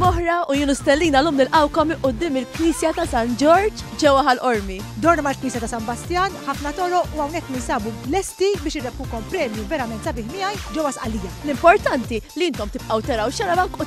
Moħra u Junu Stellina l-lum nil-għawkom qoddim il-Knisja ta' San Ġorġ ġewa ħal-Ormi. Dorna ma' knisja ta' San Bastian, ħafna toro u għawnek ninsabu lesti biex irrebkukom premju verament sabiħ miħaj ġewa sqallija. L-importanti li intom tibqaw teraw xarabank u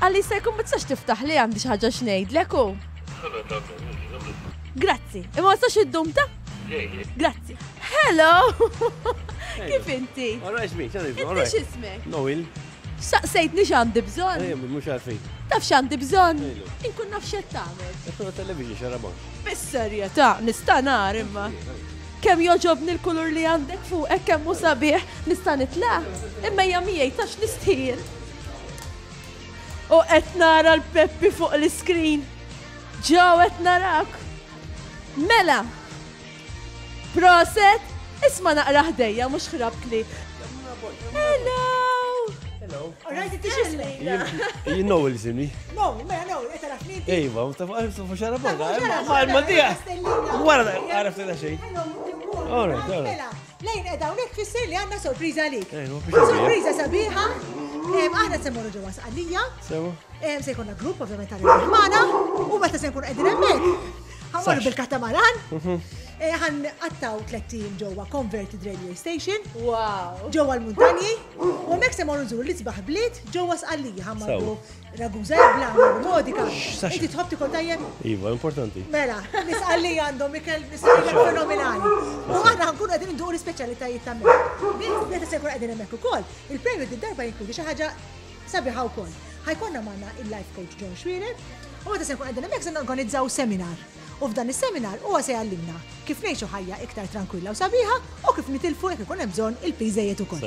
Qalli jista' jkun ma tistax tiftaħ li għandi xi ħaġa x'ngħidlek u. Grazzi, imma ma tistax iddum ta'? Grazzi. Hello! Kif inti? Alright, me, tell me. Inti x'ismek? Noel. Saqsejtni x'għandi bżonn? Eh, mhux għalfejn. Taf x'għandi bżonn? Inkun naf x'qed tagħmel. Qed television xarabon. Fis-serjetà, nista' nar imma. Kemm joġobni l-kulur li għandek fuq hekk kemm hu sabiħ nista' nitla'. Imma hija miegħi tax nistħin. U qed nara l-Peppi fuq l-iskrin. Ġew qed narak. Mela. Proset, isma' naqra ħdejja mhux ħrabtli. Hello. Hello. Rajt it You know il zimi. No, ma no, qed nara fli. Ejwa, ta' fuq xara barra. Ma tiegħek. Wara għaraf ta' xejn. All right, all right. Lejn qiegħda hawnhekk tfisser li għandna sorpriża għalik. Sorpriża sabiħa. Aħna se mmorru ġewwa Sqallija. Sewa. Se jkollna grupp ovvjament ta' magħna u meta se nkunu qegħdin hemmhekk. Ħammorru bil-katamaran. Mhm. Eh, ħan għattaw tlettin ġewwa Converted Radio Station. Wow. Ġewwa l-muntanji. U hemmhekk se morru nżur l-isbaħ bliet ġewwa Sqallija ħammorru Ragusa hekk bla aħmar b'modika. Inti tħobb tikol tajjeb? Iva, importanti. Mela, nisqalli għandhom ikel nisqalli fenomenali. U aħna nkunu qegħdin induq l-ispeċjalitajiet ta' mela. Meta se jkun qegħdin hemmhekk ukoll, il-premju d-darba jinkludi xi ħaġa sabiħa wkoll. Ħajkonna magħna il-life coach John Schwierer, u meta se nkun qegħdin hemmhekk se norganizzaw seminar. U f'dan is-seminar huwa se jgħallimna kif ngħixu ħajja iktar trankwilla u sabiħa u kif nitilfu jekk ikun hemm bżonn il-piż żejjed ukoll.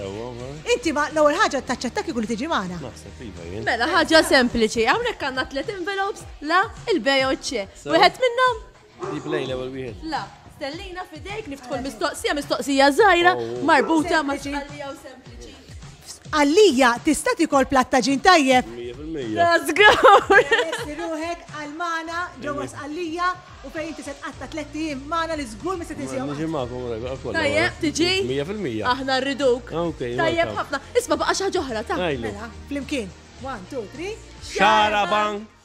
Inti ma l-ewwel ħaġa taċċetta kieku li tiġi magħna? Naħseb iva jien. Mela ħaġa sempliċi, hawnhekk għandna tliet envelopes la il-bej u ċ. Wieħed minnhom? Ġib lejn l-ewwel wieħed. La, stellina f'idejk niftħu l-mistoqsija, mistoqsija żgħira marbuta ma' xi ħallija u sempliċi. Għalija tista' tikol platt ta' ġin tajjeb? 100%. Żgur! Lesti ruħek għal magħna ġewwa Sqallija u fejn inti se tqatta' tliet ijiem magħna li żgur ma se tinsihom. Niġi magħkom rajba għal kollha. Tajjeb, tiġi? 100%. Aħna rriduk. Ah, ok, Tajjeb welcome. ħafna. Isma' baqa' xi ħaġa oħra, ta'. Ngħidlu. Mela, flimkien. One, two, three. Xarabank!